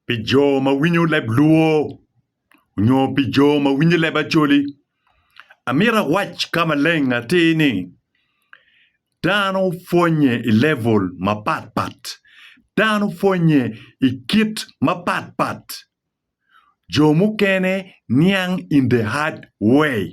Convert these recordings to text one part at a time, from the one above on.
Pi jo ma winyo leb Luo nyo pi jo ma winyo leb Acholi, amito awac ka maleng atir ni dano pwonye i level mapat pat, dano pwonye i kit mapat pat, jo mukene niang in the hard way.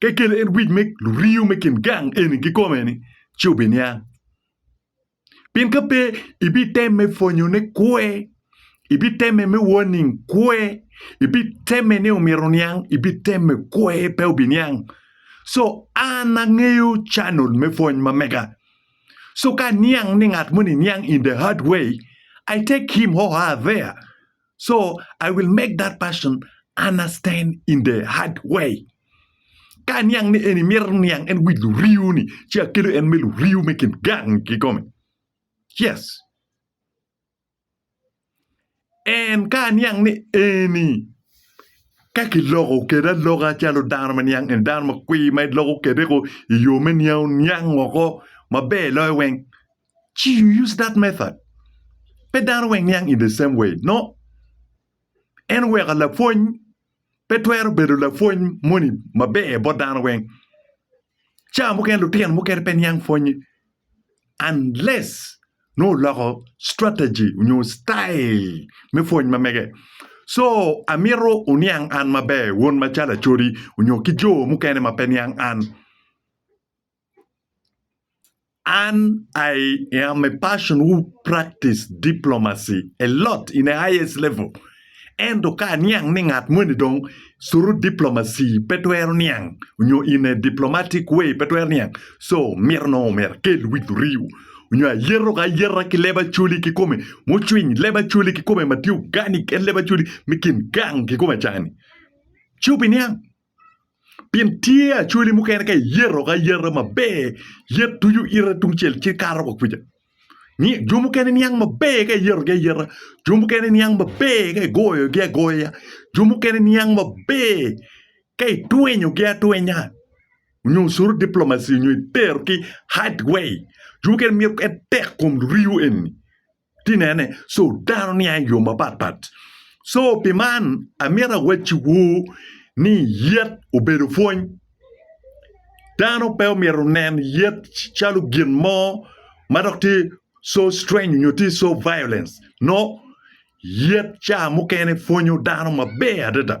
Ka ikelo en wic me luringo me kin gang eni kikome-ni, ci obiniang. Pien ka pe, ibitemme pwonyone kwe, ibitemme me warning kwe, ibitemme ni omyero oniang, ibitemme kwe, pe obiniang. So, an angeyo channel me pwony ma mega. So, ka aniang ni ngat moni niang in the hard way, I take him or her there. So I will make that person understand in the hard way. Ka aniang ni eni mito niang en wic luriu ni, ci akelo en me luriu me kin gang ki kome. Yes. En ka aniang ni eni ka kiloko kede aloka calo dano ma niang en dano ma kwi ma iloko kede ko i yo me niang niang oko maber loyo weng ci you use that method pe dano weng niang in the same way no en oweko lapwony pe twero bedo lapwony moni maber bot dano weng cawa mukene lutino mukene pe niang pwonye unless nongo oloko strategy nyo citayil me pwony ma mege so amito wuniang an maber wun macalo acodi nyo ki jo mukene ma pe niang an. Ann I am a person who practice diplomacy a lot in a highest level ento ka aniang ni ngat moni dong through diplomacy pe twero niang nyo in a diplomatic way pe twero niang so mito nongo omyero akel wic oriyo nyo ayeto ki ayeta ki leb Acholi kikome mucwiny leb Acholi kikome ma tye organic en leb Acholi me kin gang kikome cani ci obiniang. Pien tye acholi mukene ka iyeto ka ayeta maber, yet tuco ite tungcel ci kato wa kuca. Ni jo mukene niang maber ka iyetogi ayeta, jo mukene niang maber ka igoyogi agoya, jo mukene niang maber ka itwenyogi atwenya nyo curu diplomacy nyo itero ki hard way. Jo mukene mito en tek kom riyo eni. Ti nene, so dano niang i yo mapat pat. So pi man amito awacciwu ni yet obedo pwony. Dano pe omyero nen yet calo gin mo ma dok tye so strange nyo tye so violence. No, yet ca mukene pwonyo dano maber adada.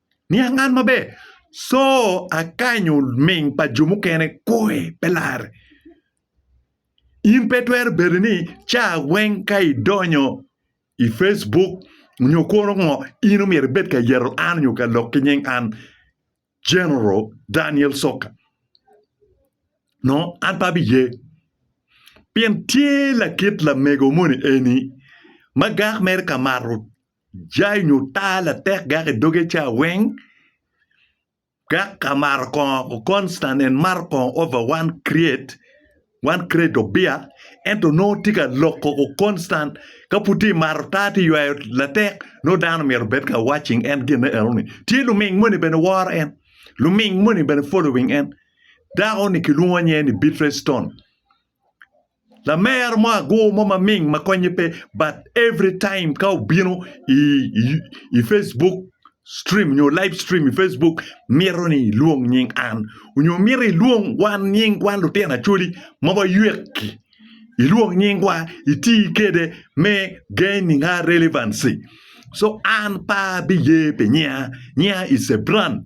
Niang man maber, Co akanyo ming pa jo mukene koi pe larre. In pe twero bedo ni ca weng ka idonyo i Facebook nyo kono ngo in omyero ibed ka yeto an nyo ka lok ki nying an General Daniel Soka. No an pe abiye. Pien tye lakit lamego moni eni ma gak mere ka mato Jai nyo taa latek gak i doge ca weng, gak amaro kongo constant and mato kongo over one create, one crate of beer ento nongo tye ka lok kongo constant ka pud tye mato taa tye ywayo latek nongo dano myero obed ka watching en gine eno ni tye luming moni bene woro en luming moni bene following en dako ni kilwongo nyinge ni Beatrice Stone. Lamer mo agur mo maming ma konye pe but every time ka obino i Facebook stream nyo live stream i Facebook mito ni ilwong nying an nyo mito ilwong wan nying wan lutino Acholi ma waywek-ki ilwong nyingwa iti kwede me gaining our relevancy so an pe abiye pi nyinga, nyinga is a brand.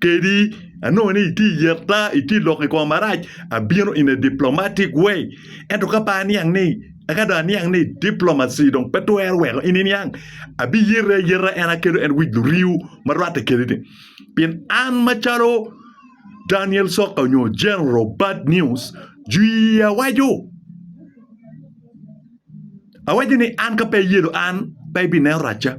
kedi anongo ni iti yeta iti lok ikoma marac abino in a diplomatic way ento ka pa aniang ni aka do aniang ni diplomacy dong pe twero weko in iniang abi yete ayeta en akelo en wic luriu ma rwate kedi ni pien an macalo Daniel Soka nyo General Bad News jwi awaco awaco ni an ka pe iyelo an pe ibineno racca.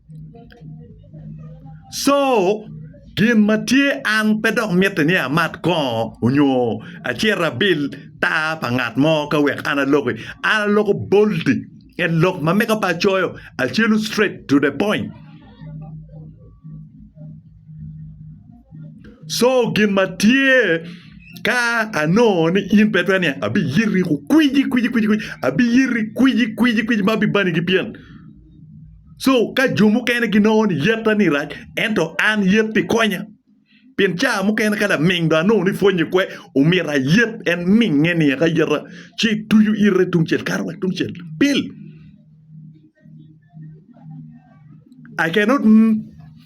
Co gin ma tye an pe dok mitte ni amat kongo onyo acit abil tar pa ngat mo ka wek an aloki an aloko boldi en lok ma mega pe acoyo acelu straight to the point co gin ma tye ka anongo ni in pe itwero niang abiyiti kwiji kwiji kwiji abiyiti kwiji kwiji ma bibani ki byen. So ka jo mukene ginongo ni yetta ni rac, ento an yet pi konya. Pien caa mukene ka laming dong anongo ni pwonye kwe, omyero ayet en minge ni eka yeta, ci tucu ite tungcel kato wa tungcel. Pil. I cannot.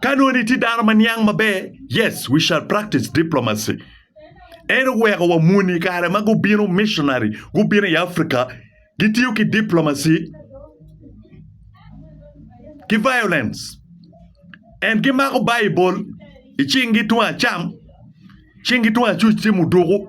Ka nongo itye dano ma niang maber, yes, we shall practice diplomacy. En oweko wa muni i kare ma gubino missionary, gubino i Africa, gitiyo ki diplomacy ki violence. And gimako Baibul i cinggi tung acam, cinggi tung acuc tye muduku.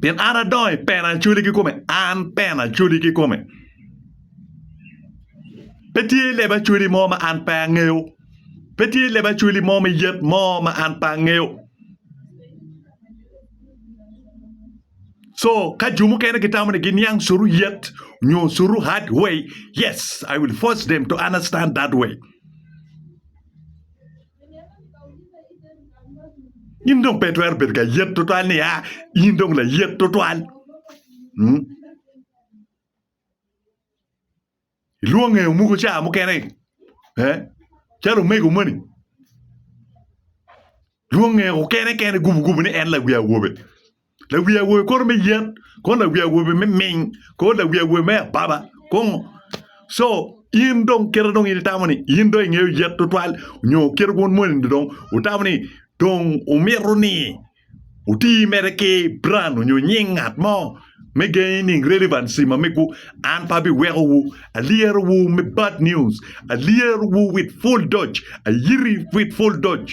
Pien an adongo i pena Acholi kikome, an pena Acholi kikome. Pe tye leb Acholi mo ma an pe angeyo, pe tye leb Acholi mo me yet mo ma an pe angeyo. So ka jo mukene gitamo ni giniang suru yet nyo suru hard way, yes I will force them to understand that way. In dong pe itwero bedo ka yet tutwal ni a in dong layet tutwal. Hmm? Ilwonge omuko ca mukene. Eh? Calo omego moni. Lwonge okene kene gubu gubu ni en lawi awobe. Lawi awobi kor me yen, kor lawi awobi me ming, kor lawi awobi me ababa, kor ngo. So in dong kite dong in itamo ni in dong ingeyo yet tutwal nyo kite wun moni dong wutamo ni dong wumito ni wuti mere ki brand nyo nying ngat mo me gengi nining relevancy mamegwu. An pe abiwekowu, alyerowu me bad news, alyerowu with full doj, ayiti with full doj.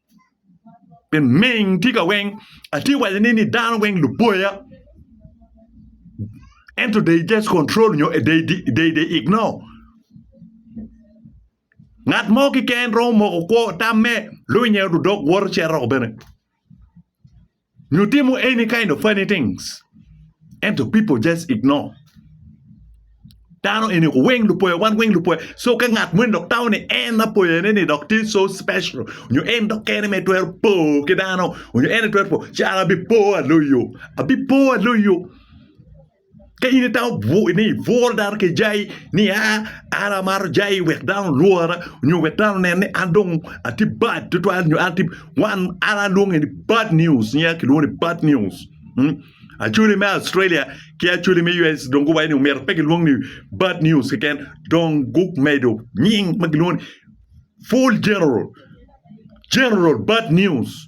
Ming tye ka weng atye ka wacone ni dano weng luboya ento they just control nyo they ignore ngat mo keken romo moko kwo tamme lwinye odok woto cito bene. Nyo timo any kind of funny things ento people just ignore dano eni ko weng lupoya wan weng lupoya so ka ngat moni dok tamo ni en apoyane ni dok tye so special nyo en dok kene ma itwero po ki dano nyo en aye twero po caro abipo aloyo abipo aloyo. Ka in itamo bwur ni ibworo dano ki jai ni aa an amato jai wek dano olwora nyo wek dano onen ni an dong atye bad tutwal nyo an tye wan an alwonge ni bad news nyinga kilwongo ni bad news. Acholi me Australia ki acholi me US dong guwaco ni omyero pe gilwong ni bad news keken dong gumedo nying ma gilwongo ni full general, general bad news.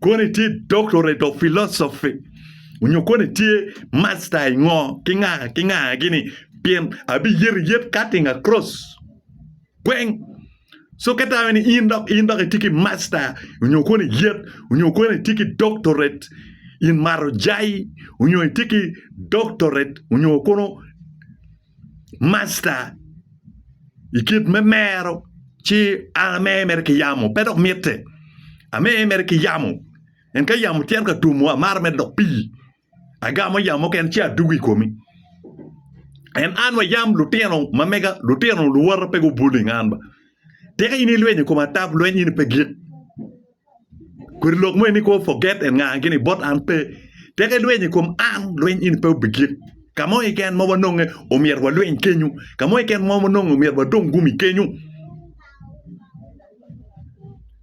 Kono itye doctorate of philosophy onyo kono itye master i ngo ki nga ki nga gini pien abiyeto iyet cutting across kweng so ka tamo ni in dok in dok itye ki master onyo kono iyet onyo kono itye ki doctorate in mato jai onyo itye ki doctorate onyo kono Masta, i kit me mero ci an amer mere ki yamo pe dok mitte. Amer mere ki yamo pien ka yamo cito ka twomo amaro mere dok pii agamo yamo mukene ci adwogo i komi. En an wa yam lutino ma mega lutino luwota pe gubwolingo an ba. Tika in ilwenyo i koma ata lweny in pe gik? Kodi lok mo en ni kwo forget and ngaa gini bot an pe. Tek ilweny i kom an, lweny in pe obigik. Ka mo keken ma wanonge omyero walweny kenyu. Ka mo keken ma wanonge omyero wadong gumi kenyu.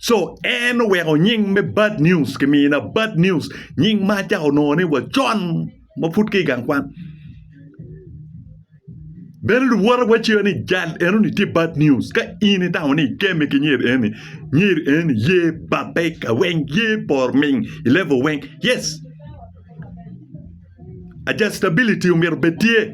Co en oweko nying me bad news kimina bad news nying ma acako nongo ni wacon. ma pud ki i gang kwan. Bene luwote waceyo ni jal enoni tye bad news. Ka in itamo ni ikeme ki nyer eni, nyer eni ye babbe ka weng, ye por ming i level weng. Yes, adjustability omyero bed tye.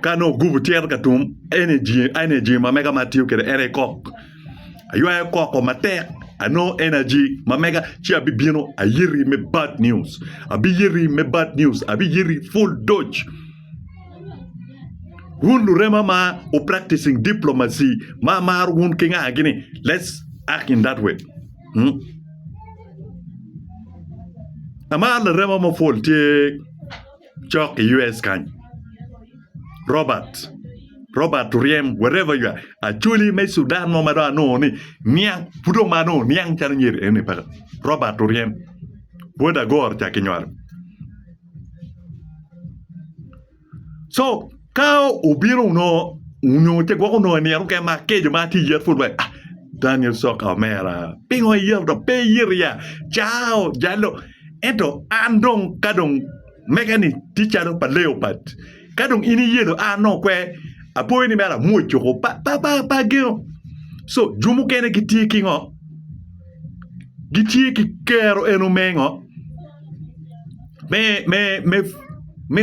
Ka nongo ogubo tyero ka tum energy energy ma mega ma atiyo kwede ene kok aywayo koko matek anongo energy ma mega ci abibino ayiti me bad news abiyiti me bad news abiyiti pul doc wun lurema ma wu practicing diplomacy ma amaro wun ki nga gini let's act in that way amaro larema mapol tye. cok i US kany Robert Robert oryem wherever you are acholi me Sudan mo ma dong anongo ni niang pud dong ma anongo niang calo nyer eni paka Robert oryem bot agoro ca kinywalo so Ka obino onongo onyo ce gwoko onongo nino mukene ma akeco ma atye yet pud wek Daniel Soka omera pingo iyero dok pe iyero ya caa ojalo ento an dong ka dong mega ni tye calo pa Leopard ka dong in iyelo a anongo kwe apoyo ni mere amwoco ko pa pa pa ageno so jo mukene gitye ki ngo gitye ki kero eno me ngo me me me me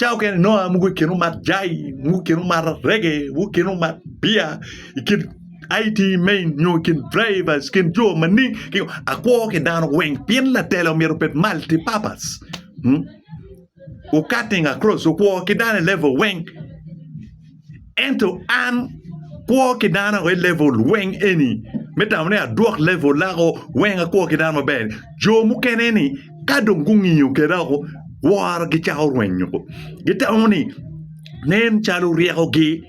Cawa mukene ni nongo mogo i kin omat jai, mogo i kin omat arege, mogo i kin omat bia, i kin IT main nyo i kin draiva, i kin jo maning ki ngo, akwo ki dano weng pien latela omyero obed multi purpose, u cutting across okwo ki dano i level weng. Ento an, kwo ki dano ago i level weng eni me tamo ni adwok level lako weng akwo ki dano maber ni. Jo mukene ni ka dong gungiyo keda woko woro gicako rwenyo ko. Gitamo ni nen calo ryeko gi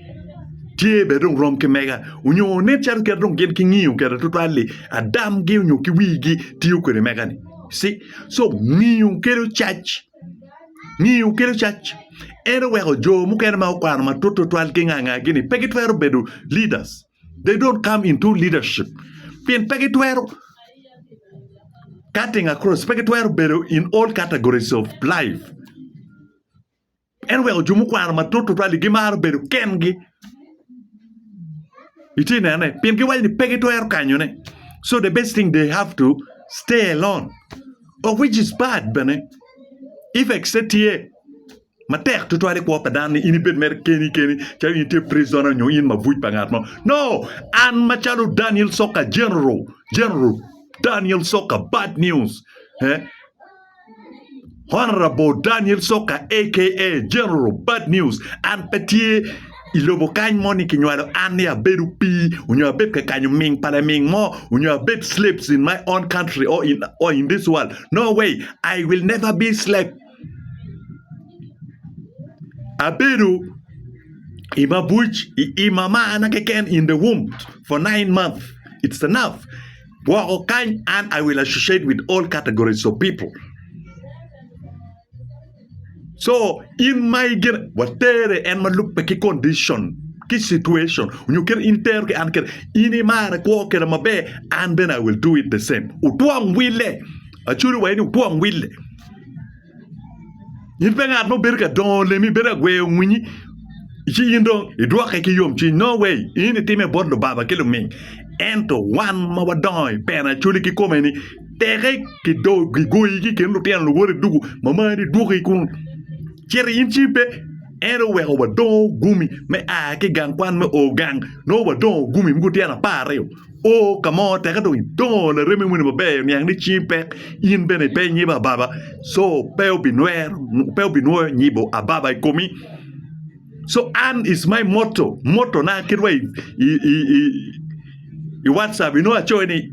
tye bene dong rom ki mega onyo nen calo kit dong gin gingiyo keda twatwal ni adam gi onyo ki wigi tiyo kwede mega ni. You see? So ngiyo kelo cac. Ngiyo kelo cac. En oweko jo mukene ma okwano matut tutwal ki nga nga gini pe gitwero bedo leaders. They don't come into leadership pien pe gitwero cutting across, pe gitwero bedo in all categories of life. En oweko jo mukwano matut tutwal-li gimaro bedo kengi, itye ka nene? Pien giwaco ni pe gitwero kanyone, so the best thing they have to stay alone. of which is bad bene effects ne tye matek tutwal i kwo pa dano ni in ibed mere keni keni calo in itye prisoner nyo in mabuc pa ngat mo no an macalo Daniel Soka general general Daniel Soka bad news eh? Honorable Daniel Soka aka general bad news an pe tye I lobo kany moni kinywalo an ni abed opii onyo abed ka kanyo ming pa laming mo onyo abed slaves in my own country or in or in this world. No way, I will never be slave. Abedo i mabuc i i mama ana keken in the womb for nine months. It's enough. Woko kany an I will associate with all categories of people. Co in ma igire watere en ma lubbe ki condicion ki situation nyo kit in tero ki an kit in imara ikwo keda maber an bene I will do it the same otwom wille acwalo wa ni otwom wille in pe ngat ma obedo ka dongo lemi ibedo ka gweyo winyi ci in dong idwoke ki yomcwiny no way in itime bot lubanga ki luming ento wan ma wadongo I pena acwali ki kome ni teke ki do gigoyi ki kin lutino luwoti dugu ma mari idwoki i kunu cito in ci pe en oweko wadongo gumi me a ki i gang kwan me o gang nongo wadongo gumi mogo tyen apar aryo o ka mo teke dong idongo laremi moni maber oniang ni cingi pek in bene ipe inyibo ababa co pe obinwero pe obinwoyo nyibo ababa i komi co an is my moto motona kit ma i i i i watcap inongo acoyo ni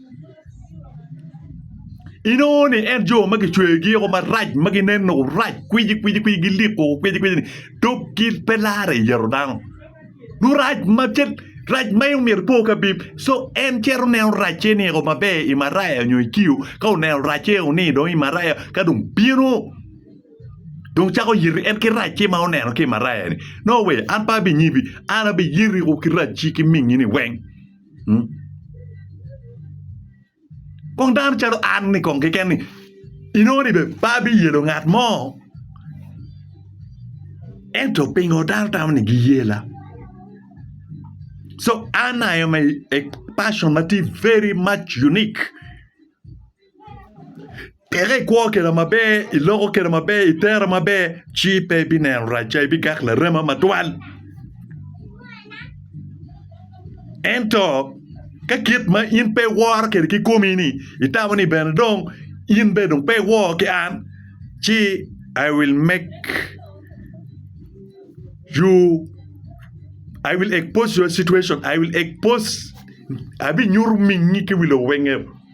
inongo ni en jo ma kicweyogi woko marac ma gineno rac kwicikwici gilik woko kwicikwicini dok gin pe lare i yeru dano dong rac ma ce rac ma en myero epo ki abim so en cito neno racce-ni eko maber i maraya nyo i kiyo ka oneno racce eko ni dong i maraya ka dong bino dong cako yito en ki racce ma oneno ki i maraya-ni no we an pe abinyibi an abiyiti woko ki racci ki mingini weng Kong dano calo an-ni kong keken ni inongo ni bene pe abiyelo ngat mo ento pingo dano tamo ni giyela? So an I am a person ma tye very much unique. Peke i kwo keda maber iloko keda maber itere maber ci pe ibineno rac ca ibigak larema matwal ento ka kit ma in pe iworo kede kikomi ni itamo ni bene dong in bene dong pe iwor ki an ci I will make you I will expose your situation I will expose abinyuto mingi ki wi lowenge.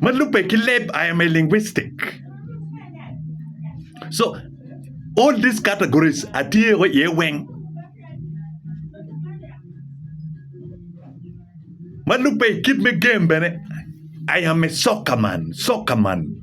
ma lubbe ki leb I am a linguistic so all these categories atye o iye weng ma lubbe kit me game bene I am a soccer man, soccer man.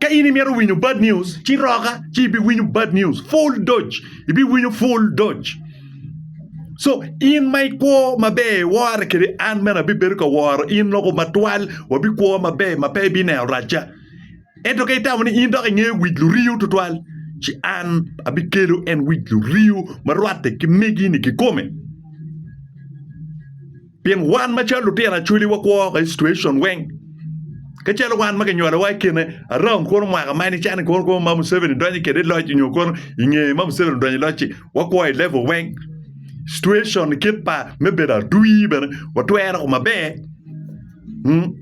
Ka in imito winyo bad news, ci roka ci ibiwinyo bad news full doj, ibiwinyo full doj. So in ma ikwo maber iwore kede an bene abibedo ka woro in loko matwal wabikwo maber ma pe ibineno racca. Ento ka itamo ni in dok ingeyo wic luriyo tutwal ci an abikelo en wic luriyo ma rwatte ki megi-ni kikome. Pien wan macalo lutino acoli wakwo woko i cituacion weng. Ka calo wan ma kinyolowa i kine aram kono mwaka ma nicani kono kono ma Museveni donyo kede i loc nyo kono i nge ma Museveni odonyo i loc-ci wakwo i level weng. Cituacion kit pa me bedo atwi bene watwero ko maber. Hmm.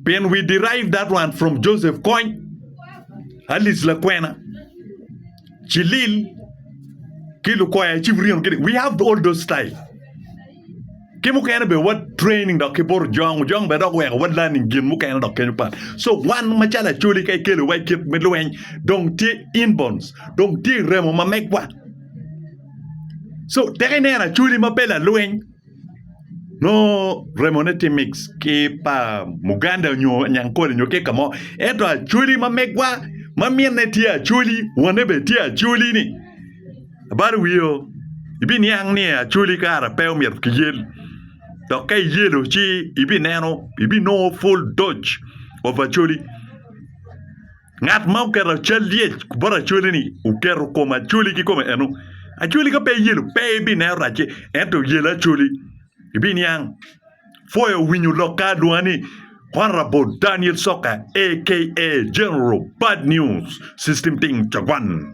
Pien we derive that one from Joseph Kony, Alice Lakwena. ci lil ki lukoya ci wuryemo kidi we have all those style ki mukene be wa training dok ki boro jong jong be dok weko wa learning gin mukene dok kenyo pat so wan macalo acoli ka ikelo wa ikit me lweny dong tye inborns dong tye iremo ma megwa so tek ineno acoli ma pe lalweny nongo remone tye mix ki pa muganda nyo nyankole nyo kika mo ento acholi ma megwa ma minne tye acholi wanne bene tye acholi ni abalo wii oo ibiniang ni acholi kara pe omyero kiyel dok ka iyelo ci ibineno ibinongo pul doc of acholi Ngat ma oketo cal lyec bot acwali-ni oketo kom acwali ki kome eno. Acwali ka pe iyelo, pe ibineno racce, ento iyelo acwali, ibiniang. Foyo winyo lok ka adwonga ni Honorable Daniel Soka aka General Bad News System Ting Cogwan.